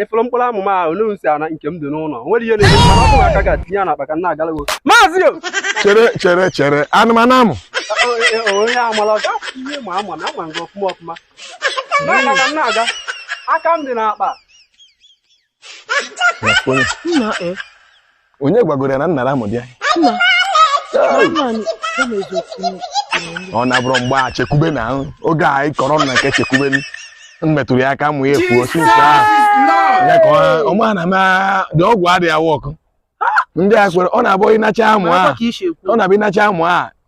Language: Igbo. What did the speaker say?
ị fụrụ mkpụrụ amụ m ahụ n'u si ana nke m dị n'ụlọ o nwere ihe na-eme m, mana ọ bụrụ aka ga-atinye ya n'akpa ka m na-agala gị maazị o chere chere chere anụmanụ amụ O- e- e- onye amala ọ gaghị ihe ma ama na ama gị ọfụma ọfụma na-aga ka m na-aga aka m dị n'akpa Nna e. onye gwagoro ya na nnara amụ bịa ọ na-abụrụ mgbe Chekwube na oge anyị kọrọ na nke Chekwube m metụrụ ya aka amụ ya efuo sinsa ya ka ọma na ma dị ọgwụ adịghị a-work ndị a sịrị ọ na-abụ ịnacha amụ a ọ na-abụ ịnacha amụ a